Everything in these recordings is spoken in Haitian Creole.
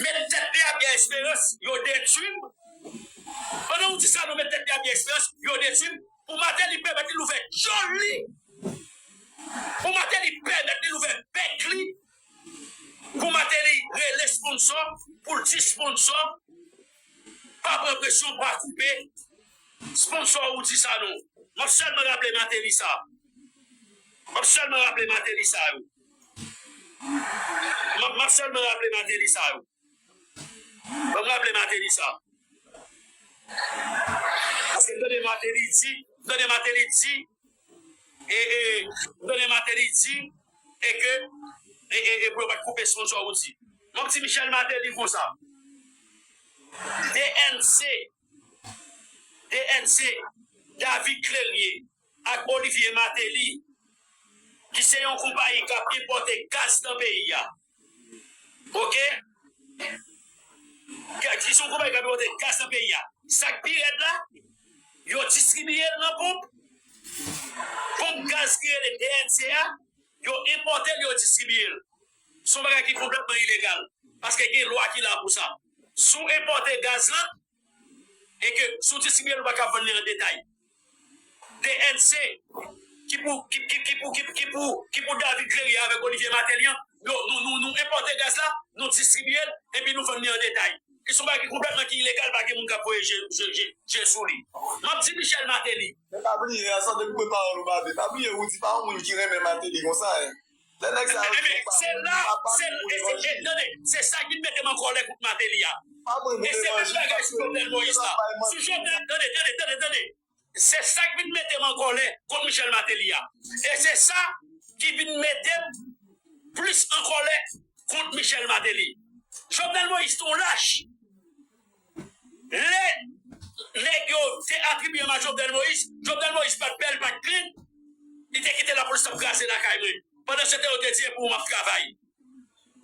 Met tèt li a Pierre Esperance yo detwi m Pandan ou di sa non met tèt li a Pierre Esperance yo detwi m Pou Martelly pèmèt li louvè dyòl li Pou Martelly pèmèt li louvè bèk li Pou Martelly rele sponsò pou l di sponsò Pa pran presyon pa koupe sponsò ou di sa non M ap sèlman raple Martelly sa M ap sèlman raple Martelly sa yo. Map map selman raple mateli sa yo. Banm raple mateli sa. Paske m tande mateli di, m tande mateli di e e m tande mateli di e ke e e e pou yo pat koupe son sa ou di. Map di Michel Mateli konsa. DNC, DNC, David Clelie. ak Olivier Martelly ki se yon konpayi kap enpòte gaz nan peyi a ok ki se yon konpayi kap enpòte gaz nan peyi a sak pi rèd la yo distribiyel nan ponp ponp gaz ki rele DNC a yo enpòtel yo distribiyel son bagay ki konplètman ilegal paske gen lwa ki la pou sa si w enpòte gaz lan e ke si w distribye l ou pa ka vann li an detay. DNC, Ki pou ki pou ki pou ki pou David Clery avèk Olivier Martelly an, yo nou nou nou enpòte gaz la, nou distribye l epi nou vann li an detay. Ki son bagay ki konplètman ki ilegal pa gen moun k ap voye je je je je sou li. M ap di Michel Martelly. Men pa bliye, an san de m kwe pawòl ou Babe, pa bliye Roody pa yon moun ki renmen Martelly konsa en. Lè nèg sa yo di yon pawòl li pa pa pou pou levanjil. Tande, se sa ki mete m an kòlè kont Mateli a. Pa mwen pou levanjil paske li menm li pa bay manti. Sou Jovenel, tande, tande, tande, tande. Se sa ki vin mete m an kòlè kont Michel Mateli a. E se sa ki vin mete m plis an kòlè kont Michel Mateli. Jovenel Moïse te yon lach. Lè nèg yo te atribiye m a Jovenel Moïse, Jovenel Moïse pat bèl, pat klin, li te kite lapolis t ap kraze lakay mwen. Pandansetan yo te di e pou ou m ap travay.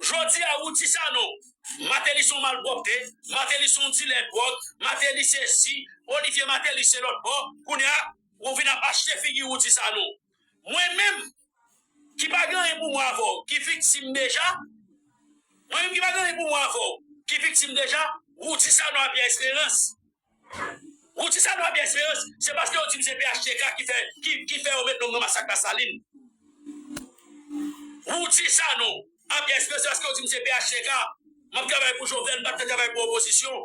Jodi a ou di sa non, Martelly s on malpwòpte, Martelly s on dilè dwòg, Martelly sesi, Olivier Martelly se lòtbò, kounye a ou vin ap achte figi ou di sa non. Mwen menm ki pa gen anyen pou mwen avè w ki viktim deja Mwen menm ki pa gen anyen pou mwen avè w ki viktim deja Roudy Sanon a Pierre Espérance Roudy Sanon a Pierre Espérance Se paske yo di m se phtk ki fè ki fè yo met non m nan masak Lasalin Roudy Sanon a Pierre Espérance Se paske yo di m se phtk m ap travay pou Jovenel m pa t ka travay pou opozisyon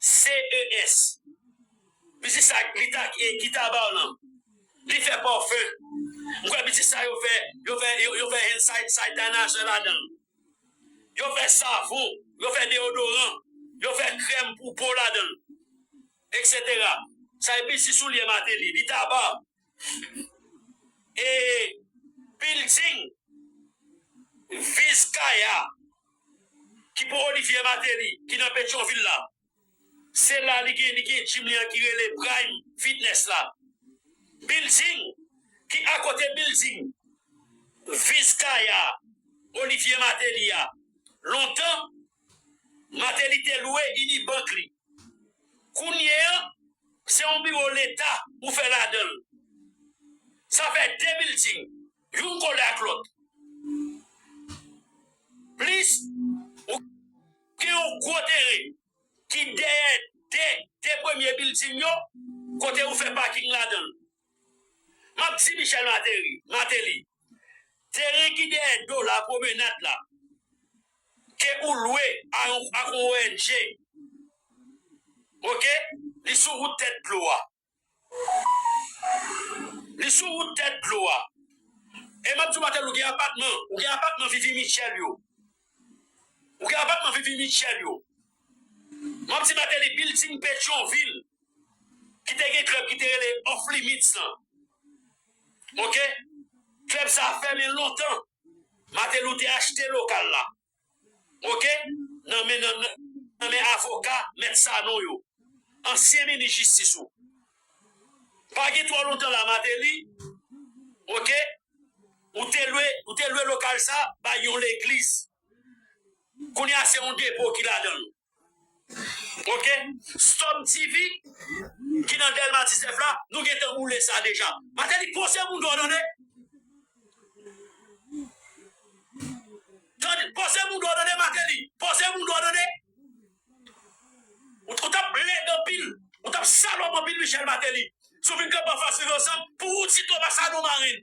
GRANCES. Pitit sa gita gita baw lan li fè parfum m kwè pitit sa yo fè yo fè yo fè hand sanitizer ladanl yo fè savon yo fè deodoran yo fè krèm pou po ladanl etc sa e pitit soulye mateli li ta ba e bilding Viz Kaya ki pou Olivier Martelly ki nan Petyonvil la, se la li gen li gen gym li an ki rele Prime Fitness la. Bilding ki akote bilding Viz Kaya Olivier Martelly a, lontan Martelly te lwe Unibank li. Kounye an, se yon biwo leta ou fè ladan l. Sa fè de bilding, youn kole ak lòt. Plis, ou gen yon gwo teren ki dèyè de premye bilding yo, kote ou fè paking ladan l. Map di Michel Materi, Mateli, teren ki dèyè dola pwomenad la ke ou lwe a yon ak yon ONG ok li sou wout tèt dlo a. Li sou wout tèt dlo a. E map di w Mateli ou gen apatman, ou gen apatman Vivi Mitchel yo. Ou gen apatman Vivi Mitchel yo. Map di Mateli bilding Petyonvil. ki te gen klèb ki te rele Off Limits lan ok klèb sa fèmen lontan Martelou te achte lokal la ok nan men nan men avoka mèt Sanon yo ansyen minis jistis ou pa gen twò lontan la Martelly ok ou te lwe ou te lwe lokal sa bay yon legliz kounya se yon depo ki ladann. Ok sòm TV ki nan delma 19 la nou gentan boule sa deja mateli pose moun dow tande tande pose moun dow tande mateli pose moun dow tande ou tap lèd anpil ou tap salòp anpil Michel mateli si w vin kanpe anfas viv ansanm pou ou ti toma sanon marenn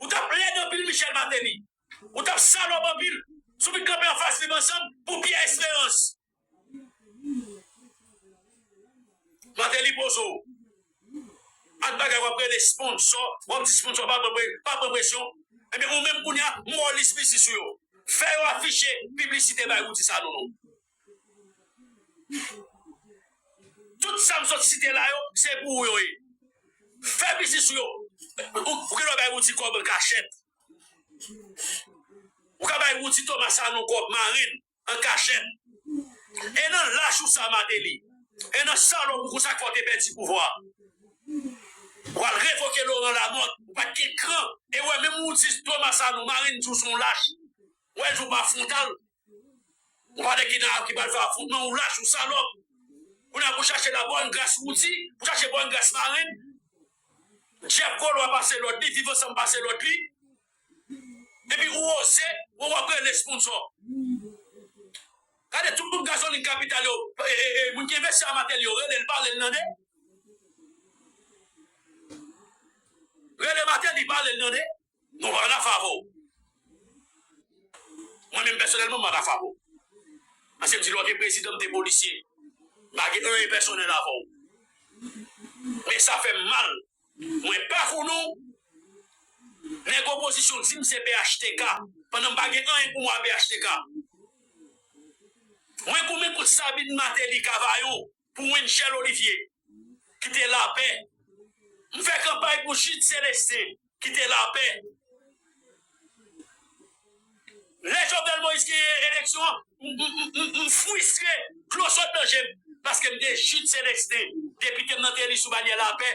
ou tap lèd anpil Michel mateli. Ou tap salop anpil si w vin kanpe anfas viv ansanm pou pierre esperance. Martelly pozo w ak bagay wap rele sponsò wap di sponsò pa pran presyon ebyen ou menm kounya mòlis misis ou yo fè yo afiche piblisite bay Rudy Sanon non. Tout sa m sot site la yo, se pou ou yo ye. Fè biznis ou yo. Ou gen dwa bay Roudy kòb an kachèt. Ou ka bay Roudy Thomas Sanon kòb, mari l, an kachèt. E nan lach ou sa, Martelly, e nan salòp ou konsa k fè w te pèdi pouvwa a, w al revoke Laurent Lamothe, ou pa t gen kran. E wè menm Roudy Thomas Sanon, mari l, di w se yon lach. Wè l di w pa fwontal, Ou pa de ki nan ap ki pral fè afwontman ou lach ou salòp kounya pou chache la bòn gras wouti pou chache bòn gras marenn dyab kolwa pase lòd li viv ansanm pase lòd li epi ou oze wè wap rele esponnsò gade tout ponp gazolin kapital yo moun ki envesti a matèl yo relel palel nan de rele matèl li palel nan de. Nou pa ta favò ou. Mwen menm pèsonèlman m pa ta favò ou. Paske m di lè w te prezidan m te polisye. M pa gen anyen pèsonèl avè w. Men sa fè m mal mwen pa konnen w. Nèg opozisyon di m se phtk pandan m pa gen anyen pou m wè a phtk. Mwen konmen kont Sabine Martelly Cavaillon. pou Winchel Olivier kite lapè m fè kanpay pou Jude Celestin kite lapè lè Jovenel Moïse genyen eleksyon an m fwistre dlo sot nan je m paske m te Jude Celestin depite m nan te eli sou banyè lapè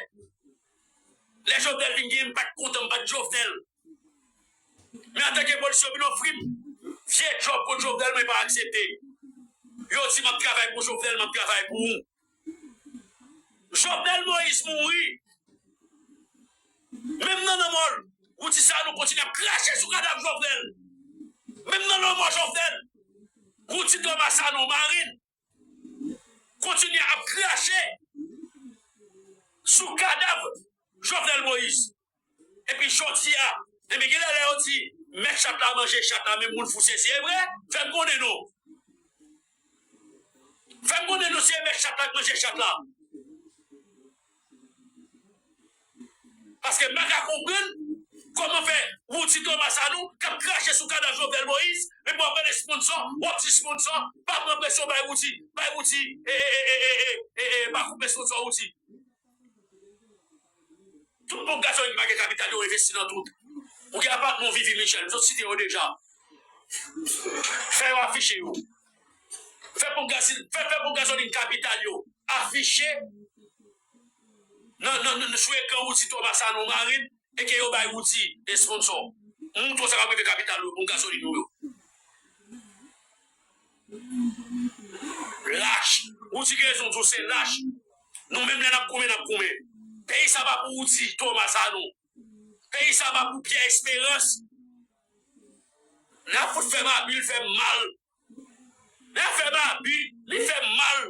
lè Jovenel vin genyen m pat kontan m pat Jovenel. Men atake polis yo vin ofri m vye djòb kont Jovenel mwen pa aksepte. Yo di m ap travay pou Jovenel m ap travay pou ou. Jovenel Moïse mouri menm nan lanmò l ou di sa nou kontinye ap krache sou kadav Jovenel. Menm nan lanmò Jovenel ou di Thomas Sanon mari l kontinye ap krache sou kadav Jovenel Moïse epi jodi a epi genlè lè yo di mèt chat la manje chat la men moun fou sezi evre fèm konnen nou fèm konnen nou si e mèt chat la k manje chat la. Paske m pa ka konprann kòman fè yon ti Thomas Sanon k ap krache sou kadav Jovenel Moïse epi w ap mande sponsò, w ap di sponsò pa pran presyon bay Roody, bay Roody ee pa koupe sponsò Roody. Tout bon gason yo ki pa gen kapital yo envesti nan tout. Ou gen apatman ou viv Ymijèn, m sot site yo deja. Fè yo afiche yo. fè ponp gazil fè fè ponp gazolin kapital yo afiche nan nan nan sou ekran Roudy Thomas Sanon Marine e ke yo bay Roudy esponnsò moutre w sa kap rive kapital yo ponp gazolin nou yo lach Roudy gen rezon di w se lach nou menm lè nap goumen nap goumen peyi sa pa pou Roudy Thomas Sanon. Peyi sa pa pou Pierre Esperance. Nap fout fè Baby l fèm mal. Nap fè Baby li fèm mal.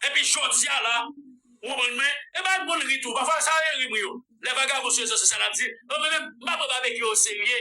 Epi jodia la ou konprann mwen. E bay moun ri tou. Pafwa sa e ri mwen yo. Lè vagabon sou rezo sosyal ap di. Mwen menm m pa pran Babekyou o serye.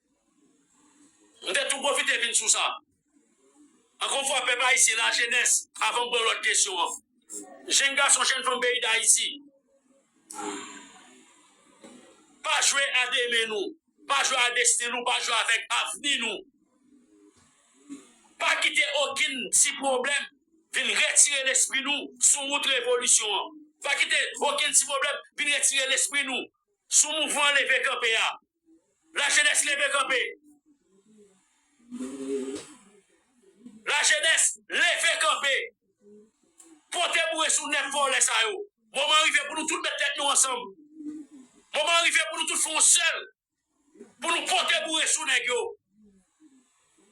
M te tou pwofite vin sou sa. Ankò yon fwa, pèp ayisyen, lajenès, avan m pran lòt kesyon an, jenn gason, jenn fanm peyi Dayiti, pa jwe a demen nou, pa jwe a desten nou, pa jwe avèk avni nou. Pa kite okenn ti pwoblèm vin retire lespri nou sou wout revolisyon an. Pa kite okenn ti pwoblèm vin retire lespri nou sou mouvman leve kanpe a. La jenès leve kanpe. La jenès leve kanpe. Pote boure sou nèg vòlè sa yo. Moman an rive pou nou tout met tèt nou ansanm. Moman an rive pou nou tout fè yon sèl. Pou nou pote boure sou nèg yo.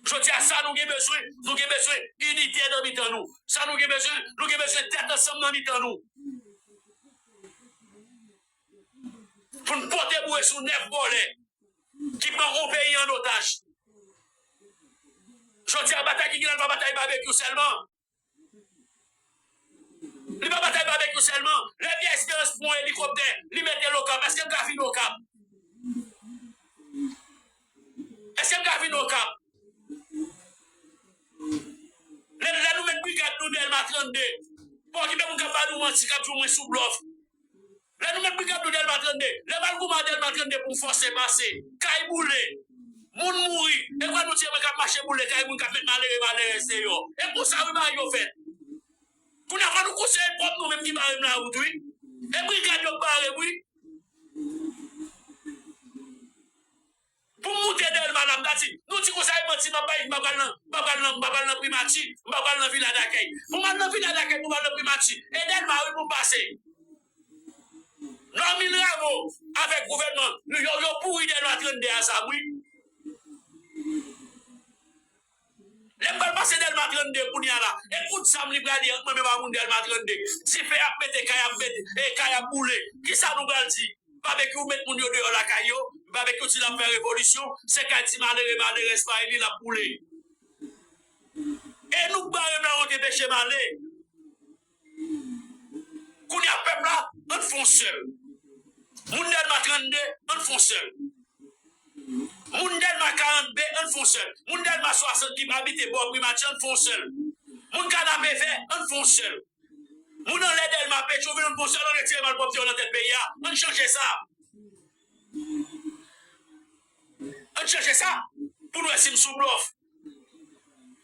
Jodi a sa nou gen bezwen, nou gen bezwen inite nan mitan nou. Sa nou gen bezwen, nou gen bezwen tèt ansanm nan mitan nou. pou n pote boure sou nèf vòlè ki pran yon peyi an otaj. Jodi a batay ki gen la li pa batay babekyou sèlman. Li pa batay babekyou sèlman. Lè Pyè Esperans pran yon elikoptè li mete l Okap, èske l ka fin Okap? Eske m ka vin okap. Lè lè nou met brigad nou delma 32 pa okipe moun kap ba nou manti kap di w mwen sou blòf lè nou met brigad nou delma 32 lè mal gouman delma 32 pou m fòse pase kay boule moun mouri e vwa nou di e mwen kap mache boule kay moun kap met malere malerèz deyò e konsa wi bagay yo fèt kounye a fò nou konseye n pwòp nou menm ki bare m la wout wi e brigad yo k bare m wi. Pou m moute Dèlma la, m ta di, nou di konsa e manti m ap bay, m pa pral nan, m pa pral nan, m pa pral nan Primati, m pa pral nan Vila Dakèy. Pou m al nan Vila Dakèy, pou m al nan Primati, e Dèlma wi pou m pase. Normil Rameau avèk gouvènman l, yo pouri Dèlma 32 a zam wi. Lè m pral pase Dèlma 32 kounye a la, e kout zam li prale ant mwen menm ak moun Dèlma 32. Dife ap mete, kay ap mete, e kay ap boule. Ki sa nou pral di? Babekyou met moun yo deyò lakay yo, Babekyou di l ap fè revolisyon, se kay ti malere, malerèz pa e li l ap boule. E nou k bare m la wont enpeche m ale. Kounya pèp la ann fon sèl Moun dèlma 32 ann fon sèl Moun dèlma 40 be ann fon sèl Moun dèlma 60 kip abite bò primati ann fon sèl Moun kanape vè ann fon sèl Moun anlè dèlma petrovil ann fon sèl ann retire malpwòpte yo nan tèt peyi a ann chanje sa ann chanje sa poun wè sim sou blòf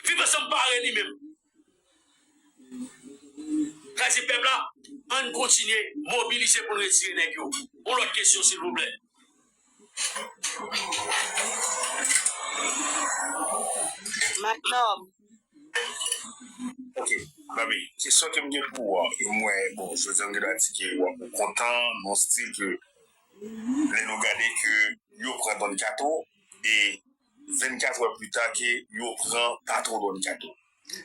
viv ansanm pare li menm. Krezi pèp la ann kontinye mobilize poun retire nèg yo yon lòt kesyon silvouplè. Mac Nord. Ok zanmi kesyon kem gen pou ou an e mwen bon jodi an m gen dwa di ke wap ou kontan nan stil ke lè nou gade ke yo pran Don Kato e 24 heures pita ke yo pran patron Don Kato